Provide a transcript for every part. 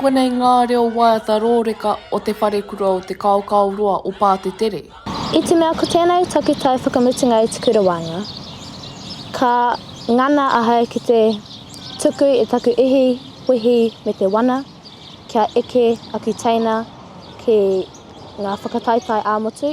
Konei ngā reo waiata rōreka o Te Wharekura o Te Kaokaoroa o Pātetere. I te mea ko tēnei takutai whakamutunga i te kura waenga, ka ngana ahau ki te tuku i taku ihi wehi me te wana kia eke aku teina ki ngā whakataetae ā-motu.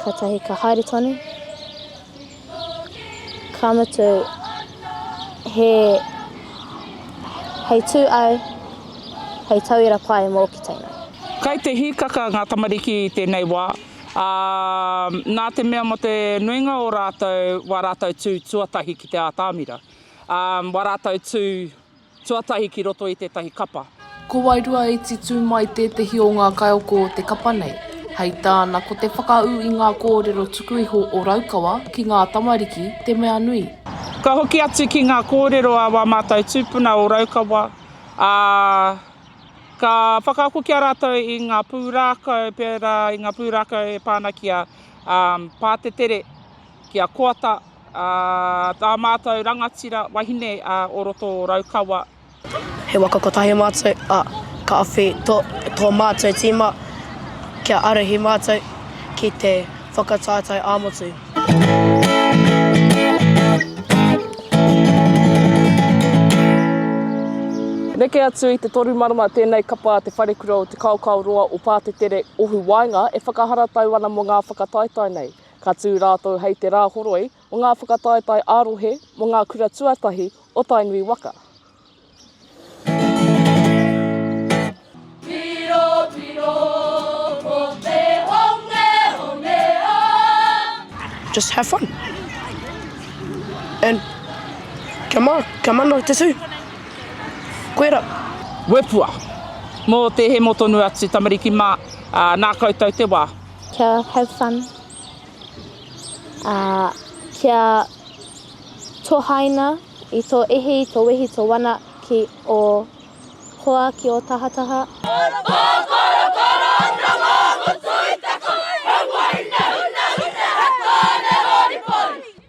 Katahi ka haere tonu, ka mutu he hei tū au, hei tauira pai mō ki teina. Kai te hīkaka ngā tamariki i tēnei wā, ā, nā te mea mō te nuinga o rātou wā rātou tū tuatahi ki te ātamira, ā, wā rātou tū. Tuatahi ki roto i tētahi kapa. Ko wairua i titū mai tētehi o ngā kaioko o te kapa nei, hei tāna ko te whakaū i ngā kōrero tuku iho o Raukawa ki ngā tamariki te mea nui. Ka hoki atu ki ngā kōrero a wā mātou tūpuna o Raukawa, ā, ka whakaako ki a rātou i ngā pūrākau, pērā i ngā pūrākau e pā ana ki a Pātetere, Ki a Koata, ā, tā mātou rangatira wahine o roto o Raukawa. He waka kotahi mātou, ā, ka awhi tō, tō mātou tīma kia arahi mātou ki te whakataetae ā-motu. Neke atu i te toru marama tēnei kapa Te Wharekura o Te Kaokaoroa o Pātetere, Ohu Waenga e whakaharatau ana mō ngā whakataetae nei. Ka tū rātou hei te Rāhoroi o ngā Whakataetae ā-Rohe mō ngā Kura Tuatahi o Tainui waka. Just have fun. And kia ma, kia mana te tū. Koera. Wepua. Mō te hemo tonu atu tamariki mā, nā koutou te wā. Kia have fun. Uh, kia tohaina i tō ihi, i tō wehi, tō wana ki o hoa, ki o tahataha.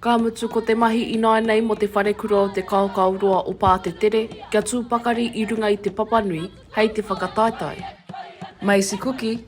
Ka mutu ko te mahi ināinei mō te wharekura o Te Kaokaoroa o Pātetere kia tū pakari i runga i Te Papanui hei te whakataetae. Macy Kuki,